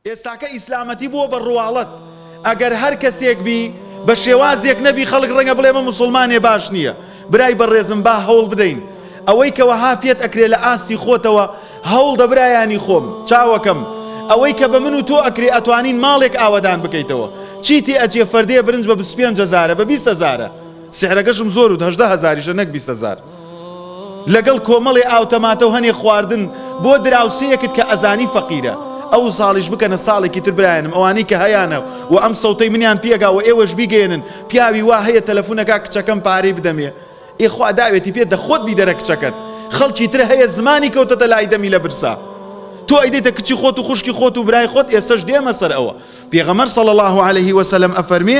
ئێستاکە ئیسلامەتی بووە بە ڕواڵەت ئەگەر هەر کەسێک بی بە شێوازێک نەبی خەڵک ڕەنگە بڵێ مە موسڵمانێ باش نییە برای بەڕێزم با هەوڵ بدەین ئەوەی کە وەها پێت ئەکرێ لە ئاستی خۆتەوە هەوڵ دە برایانی خۆم چاوەکەم ئەوەی کە بە من و تۆ ئەکرێ ئەتوانین ماڵێک ئاوەدان بکەیتەوە چی تێ ئەجێ فەردەیە برنج بە 25 هەزارە بە 20 هەزارە سعرەکەشم زۆر و هەژدە هەزاریشە نەک 20 هەزار لەگەڵ کۆمەڵێ ئاوتەماتەو هەنێ خواردن بۆ دراوسێیەکت کە ئەزانی فەقیرە ئەوساڵیش بکەنە ساڵێکی تر برایانم ئەوانەی کە هەیانە و ئەم سەوتەی منیان پێگا وە ئێوەش بیگەیەنن پیاوی وا هەیە تەلەفونە کا کچەکەم پارەی بدەمێ ئێ خوا داوێتی پێ دە خۆت بیدەرە کچەکەت خەڵکی تر هەیە زمانی کەوتەتە لای دەمی لە برسا تۆ ئەیدەیتە کچی خۆت و خوشکی خۆت و برای خۆت ئێستەش دێمە سەر ئەوە پێغەمەر صلی الله عليه وسلم ئەفەرمێ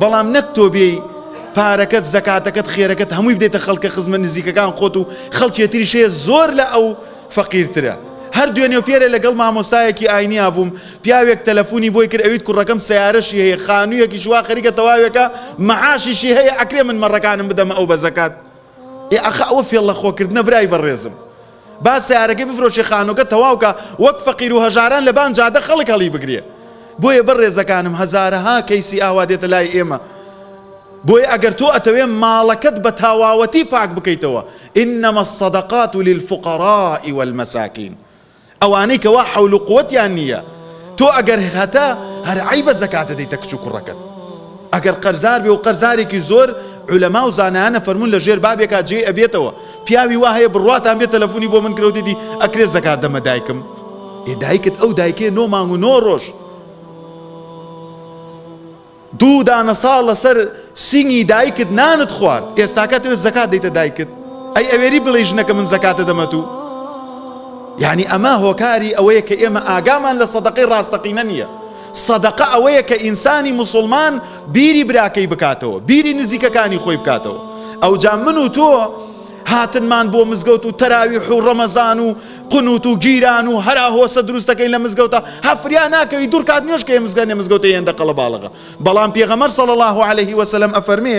بەڵام نەک تۆ بێی پارەکەت زەکاتەکەت خێرەکەت هەمووی بدەیتە خەڵکە خزمە نزیکەکان خۆت و خەڵکێ تریش هەیە زۆر لە ئەو فەقیرترە هەر دوێنێ و پێرێ لەگەڵ مامۆستایەکی ئاینیا بووم پیاوێک تەلەفونی بۆی کرد ئەویت کوڕەکەم سەیارەشی هەیە خانوویەکیش وا خەریکە تەواوێکە مەعاشیشی هەیە ئەکرێ من مەڕەکانم بدەمە ئەو بە زەکات ئێ ئاخە ئەوە فێڵ لە خۆکردنە برای بەڕێزم با سەیارەکەی بفرۆشێ خانوەکە تەواوکا وەک فەقیرو هەژاران لەبان جادە خەڵک هەڵیبگرێ بۆیە بەڕێزەکانم هەزارەها کەیسی ئاوا دێتە لای ئێمە بۆیە ئەگەر تۆ ئەتەوێ ماڵەکەت بە تاواوەتی پاک بکەیتەوە انما الصدقات للفقراء والمساکین ئەوانەی کەوا حەول و قوەتیان نییە تۆ ئەگەر هەتە هەر عەیبە زەکاتە دەیتە کچ و کوڕەکەت ئەگەر قەرزار بێ و قەرزارێکی زۆر علەما و زانایانە فەرموون لە ژێر بابێکا جێی ئەبێتەوە پیاوی وا هەیە بڕواتان بێ تەلەفونی بۆ من کرەو دێتی ئەکرێ زەکات دەمە دایکم ئێ دایکت ئەو دایکێ نۆ مانگ و نۆ ڕۆژ دوو دانە ساڵ لەسەر سینگی دایکت نانت خوارد ئێستاکە توێ زەکات دەیتە دایکت ئەی ئەوێری بڵێ ژنەکە من زەکاتە دەمە تو یعنی ئەمە هۆکاری ئەوەیە کە ئێمە ئاگامان لە سەدەقەی ڕاستەقینە نییە سەدەقە ئەوەیە کە ئینسانی موسوڵمان بیری براکەی بکاتەوە، بیری نزیکەکانی خۆی بکاتەوە. ئەوجا من و تۆ هاتنمان بۆ مزگەوت و تەراویح و ڕەمەزان و قنوت و گیران و هەرا هۆسە دروست دەکەین لە مزگەوتا، هە فریا ناکەوی دوڕکات نوێژ کەی مزگەنێ مزگەوتە هێندە قەڵەباڵغە. بەڵام پێغەمبەر صلی اللە علیە و سلم ئەفەرمێ،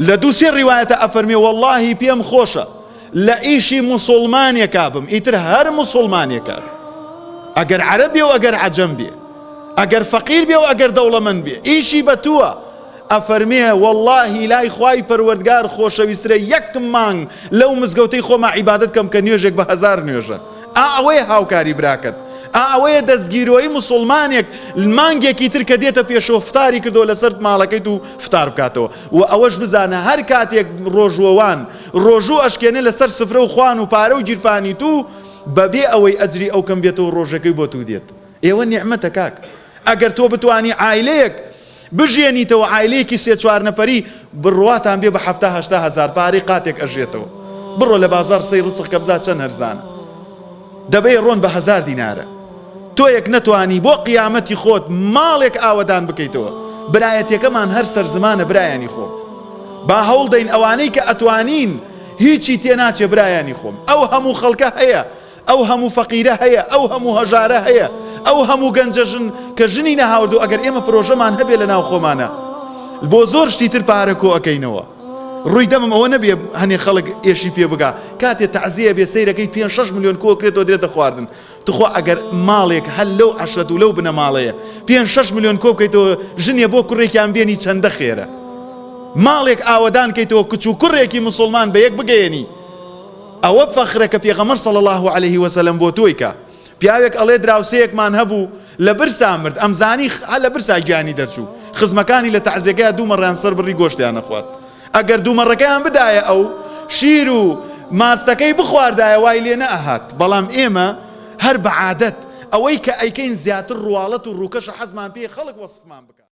لە دوو سێ ڕیوایەتا ئەفەرمێ وەڵاهی پێم خۆشە لە ئیشی موسوڵمانێکا بم ئیتر هەر موسوڵمانێکا بێ ئەگەر عەرەب بێ و ئەگەر عەجەم بێ ئەگەر فەقیر بێ و ئەگەر دەوڵەمەند بێ ئیشی بە تووە ئەفەرمێ وەڵاهی لای خوای پەروەردگار خۆشەویسترە یەک مانگ لەو مزگەوتەی خۆما عیبادەت کەم کە نوێژێک بە هەزار نوێژە ئا ئەوەیە هاوکاری براکەت ئا ئەوەیە دەستگیرۆی موسوڵمانێک مانگێکی تر کە دێتە پێشەوە فتاری کردەوە لەسەر ماڵەکەیت و فتار بکاتەوە و ئەوەش بزانە هەر کاتێک ڕۆژوەوان ڕۆژوو ئەشکێنێ لەسەر سفرە و خوان و پارە و گیرفانی تو بەبێ ئەوەی ئەجری ئەو کەم بێتەوە ڕۆژەکەی بۆ تو دێت ئێوە نیعمەتە کاک ئەگەر تۆ بتوانی عایلەیەک بژێنیتەوە عایلەیەکی سێ چوار نەفەری بڕواتان بێ بە حەفتا هەشتا هەزار پارەی قاتێک ئەژێتەوە بڕۆ لە بازار سەی ڕسق کە بزا چەند هەرزانە دەبێ ڕۆن بە هەزار دینارە تۆیەک نەتوانی بۆ قیامەتی خۆت ماڵێک ئاوەدان بکەیتەوە برایەتەکەمان هەر سەر زمانە برایانی خۆم با هەوڵ دەین ئەوانەی کە ئەتوانین هیچی تێ ناچێ برایانی خۆم ئەو هەموو خەڵکە هەیە ئەو هەموو فەقیرە هەیە، ئەو هەموو هەژارە هەیە، ئەو هەموو گەنجە ژن کە ژنی نەهاوردووە، ئەگەر ئێمە پرۆژەمان هەبێ لە ناو خۆمانا بۆ زۆر شتی تر پارە کۆ ئەکەینەوە. ڕووی دەمم ئەوە نەبێ هەنێ خەڵک ئێشی پێ بگا، کاتێ تەعزیە ئەبێ سەیرەکەی پێنج شەش ملیۆن کۆ کرێتەوە درێتە خواردن، توخوا ئەگەر ماڵێک هەر لەو عەشرەت و لەو بنەماڵەیە پێنج شەش ملیۆن کۆ بکەیتەوە ژنێ بۆ کوڕێکیان بێنی چەندە خێرە. ماڵێک ئاوەدان کەیتەوە کچ و کوڕێکی موسوڵمان بە یەک بگەیەنی، ئەوە فەخرە کە پێغەمبەر صلی اللە علیە و سلم بۆ تۆی کە پیاوێک ئەڵێ دراوسێیەکمان هەبوو لە برسا مرد ئەمزانی خئ لە برسا گیانی دەرچوو خزمەکانی لە تەعزێگەیا دوو مەڕیان سەر بڕی گۆشتیان نەخوارد ئەگەر دوو مەڕەکەیان بدایە ئەو شیر و ماستەکەی بخواردایە وای لێ نە ئەهات بەڵام ئێمە هەر بە عادەت ئەوەی کە ئەیکەین زیاتر ڕواڵەت و ڕووکەشە حەزمان پێیە خەڵک وەسفمان بکا.